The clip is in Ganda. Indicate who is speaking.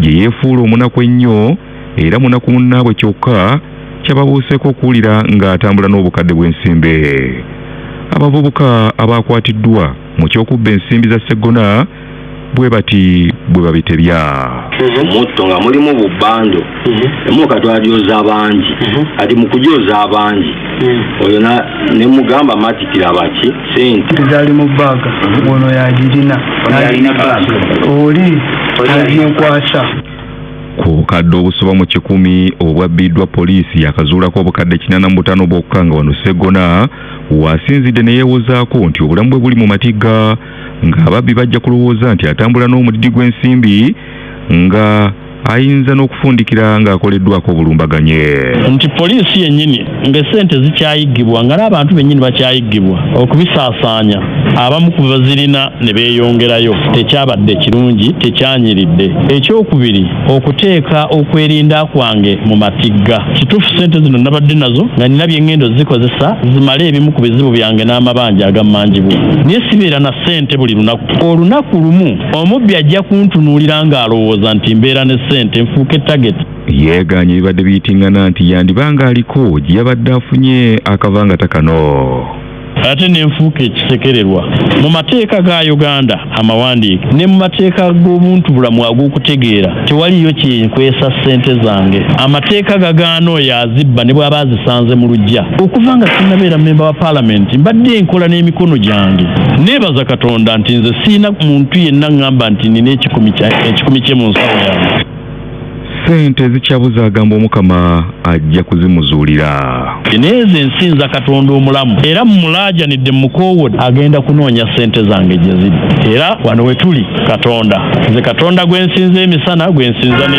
Speaker 1: gye yeefuula omunaku ennyo era munaku munnaabwe kyokka kyababuuseeko okuwulira ng'atambula n'obukadde bw'ensimbe. Abavubuka abaakwatiddwa mu ky'okubba ensimbi za Sseggona bwe bati bwe babitebya. Mhm. omutto
Speaker 2: nga mulimu bubbando mhm. emuka twajoza bangi mhm. kati mu kujoza bangi oyo ne mugamba matikira baki sente zali mu baaga
Speaker 3: mhm. ono yagirina oli aginkwasa
Speaker 1: ku kadde obusoba mu kikumi obwabbiddwa poliisi yakazuulako obukadde kinana mu butaano bwokka nga wano segona wasinzidde ne yeewozaako nti obulamu bwe buli mu matigga ng'ababbi bajja kulowooza nti atambula n'omudidi gw'ensimbi nga ayinza n'okufundikira ng'akoleddwako obulumbaganye nti poliisi
Speaker 4: yennyini ng'essente zikyayiggibwa nga n'abantu bennyini bakyayiggibwa okubisaasaanya abamu ku bazirina ne beeyongerayo tekyabadde kirungi tekyanyiridde ekyokubiri okuteeka okwerinda kwange mu matigga kituufu ssente zino nabadde nazo nga nina bye ngendo zikozesa zimale ebimu ku bizibu byange n'amabanja agammanjibwa naye sibeera na ssente buli lunaku olunaku lumu Omubbi ajja kuntunuulira ng'alowooza nti mbeera ne ssente nfuuke tageti. Yeegaanye ebibadde
Speaker 1: biyitingana nti yandiba ng'aliko gye yabadde afunye akava nga takano. ate
Speaker 4: n'enfuuka ekisekererwa mu mateeka ga Uganda amawandiike ne mu mateeka g'obuntubulamu ag'okutegeera tewaliyo kinkwesa ssente zange amateeka gagaana oyo azibba ne bw'aba azisanze mu lujja okuva nga sinnabeera mmemba wa paalamenti mbadde nkola n'emikono gyange neebaza katonda nti nze siina muntu yenna ŋŋamba nti nina ekikumi kye mu nsawo yange ssente
Speaker 1: zikyabuza agamba omukama ajja kuzimuzuulira. N'ezo ensi
Speaker 4: nza Katonda omulamu, era mmulaajanidde mmukoowodde, agenda kunoonya ssente zange gye ziri. Era wano we tuli, Katonda. Nze Katonda gwe nsinza emisana, gwe nsinza ne.